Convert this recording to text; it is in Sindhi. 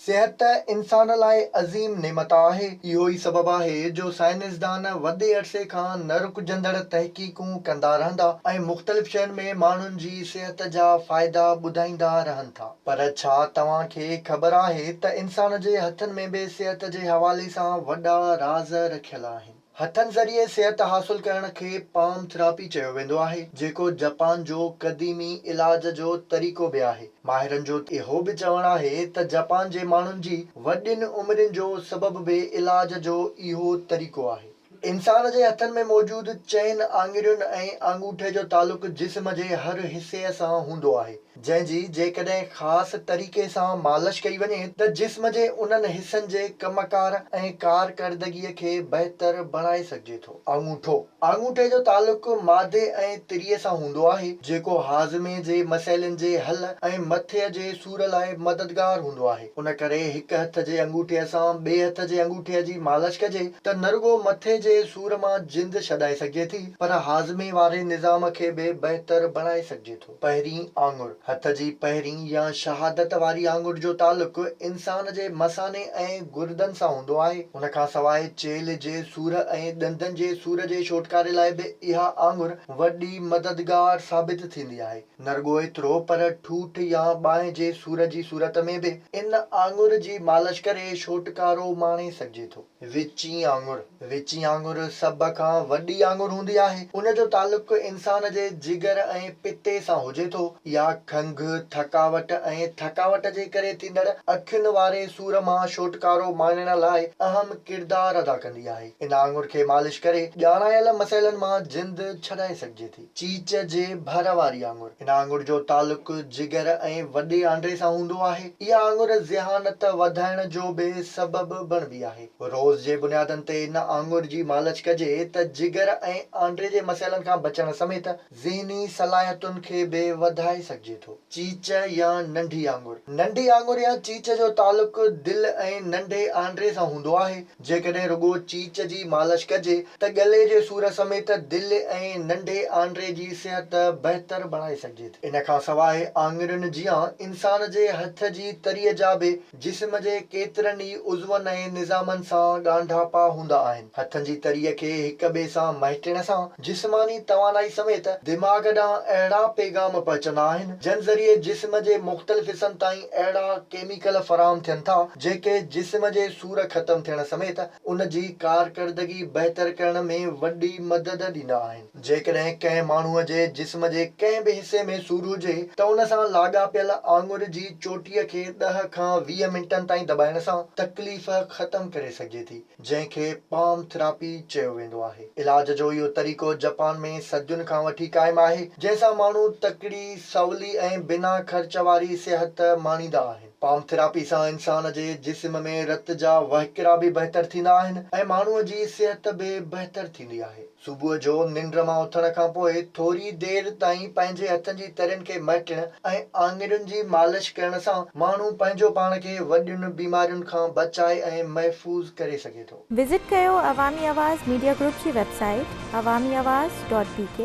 صحت ته انسان لاء عظيم نعمت آهي. اهو ئي سبب آهي جو سائنسدان وڏي عرصي کان نه رڪجندڙ تحقيقون ڪندا رهندا ۽ مختلف شين ۾ ماڻهن جي صحت جا فائدا ٻڌائيندا رهن ٿا. پر ڇا توهان کي خبر آهي ته انسان جي هٿن ۾ به صحت جي حوالي سان وڏا راز رکيل آهن. هٿن ذريعي صحت حاصل ڪرڻ کي پام ٿراپي چيو ويندو آهي، جيڪو جپان جو قديمي علاج جو طريقو به آهي. ماهرن جو اهو به چوڻ آهي ته جپان جي ماڻهن جي وڏين عمرين جو سبب به علاج جو اهو طريقو آهي. انسان جي هٿن ۾ موجود چئن آڱرين ۽ آڱوٺي جو تعلق جسم جي هر حصي سان هوندو آهي. جنهن جي جيڪڏهن خاص طريقي سان مالش ڪئي وڃي ته جسم جي انهن حصن جي ڪم ڪار ۽ ڪارڪردگيء کي بهتر بڻائي سگهجي ٿو. آڱوٺو، آڱوٺي جو تعلق معدي ۽ تريء سان هوندو آهي، جيڪو هاضمي جي مسئلن جي حل ۽ مٿي جي سور لاء مددگار هوندو آهي، ان ڪري هڪ هٿ جي انگوٺي سان ٻئي هٿ جي انگوٺي جي مالش ڪجي ته نه رڳو مٿي جي سور مان جند ڇڏائي سگهجي ٿي پر هاضمي واري نظام کي به بهتر بڻائي سگهجي ٿو. پهرين آڱر، هٿ جي پهرين يا شهادت واري آڱر جو تعلق انسان جي مثاني ۽ گردن سان هوندو آهي. ان کان سواء چيلهه جي سور ۽ ڏندن جي سور جي ڇوٽڪاري لاء به اها آڱر وڏي مددگار ثابت ٿيندي آهي. نه رڳو ايترو پر ٺوٺ يا ٻانهن جي سور جي صورت ۾ به ان آڱر جي مالش ڪري ڇوٽڪارو ماڻي سگهجي ٿو. وچين آڱر، وچين آڱر سڀ کان وڏي آڱر هوندي آهي. ان جو تعلق انسان جي جگر ۽ پتي سان هجي ٿو. اها کنگهه، ٿڪاوٽ ۽ ٿڪاوٽ جي ڪري ٿيندڙ اکين واري سور مان ڇوٽڪارو ماڻڻ لاء اهم ڪردار ادا ڪندي آهي. ان آڱر کي مالش ڪري ڄاڻايل مسئلن مان جند ڇڏائي سگهجي ٿي. چيچ جي ڀر واري آڱر، هن آڱر جو تعلق جگر ۽ وڏي آنڊي سان هوندو آهي. اها آڱر ذهانت وڌائڻ جو به سبب بڻبي آهي. روز جي بنيادن تي ان آڱر جي مالش ڪجي ته جگر ۽ آنڊي جي مسئلن کان بچڻ سميت ذهني صلاحيتن کي به وڌائي سگهجي ٿو. چيچ يا ننڍي آڱر، ننڍي آڱر يا چيچ جو تعلق دل ۽ ننڍي آنڊي سان هوندو آهي. جيڪڏهن رڳو چيچ جي مالش ڪجي ته ڳلي جي سور سميت دل ۽ ننڍي آنڊري جي صحت بهتر بڻائي سگهجي ٿي. ان کان سواء آڱرين جيان انسان جي هٿ جي تري جا به جسم جي ڪيترن ئي عضون ۽ نظامن سان ڳانڍاپا هوندا آهن. هٿن جي تري کي هڪ ٻئي سان مهٽڻ سان جسماني توانائي سميت دماغ ڏانهن اهڙا پيغام پهچندا آهن جن ذريعي جسم جي مختلف حصن تائين اهڙا ڪيميڪل فراهم ٿين ٿا جيڪي جسم جي ٽور ختم ٿيڻ سميت ان جي ڪارڪردگي بهتر ڪرڻ ۾ وڏي مدد ڏيندا آهن. جيڪڏهن ڪنهن ماڻهوء جي جسم جي ڪنهن به حصي ۾ سور هجي ته ان سان لاڳاپيل آڱر جي چوٽيء کي ڏهه کان ويهه منٽن تائين دٻائڻ سان تڪليف ختم ڪري سگهجي ٿي، جنهن کي پام ٿراپي چيو ويندو آهي. علاج جو اهو طريقو جپان ۾ صدين کان وٺي قائم آهي، جنهن سان ماڻهو تڪڙي، سولي ۽ بنا خرچ واري صحت ماڻيندا آهن. پام ٿيراپي سان انسان جي جسم ۾ رت جا وهڪرا به بهتر ٿيندا آهن ۽ ماڻهوء جي صحت به بهتر ٿيندي آهي. صبح جو ننڊ مان اٿڻ کان پوء ٿوري دير تائين پنهنجي هٿن جي ترين کي مهٽڻ ۽ آڱرين جي مالش ڪرڻ سان ماڻهو پنهنجو پاڻ کي وڏين بيمارين کان بچائي ۽ محفوظ ڪري سگهي ٿو. وزٽ ڪيو عوامي آواز ميڊيا گروپ جي website Awami Awaz dot بي ڪي.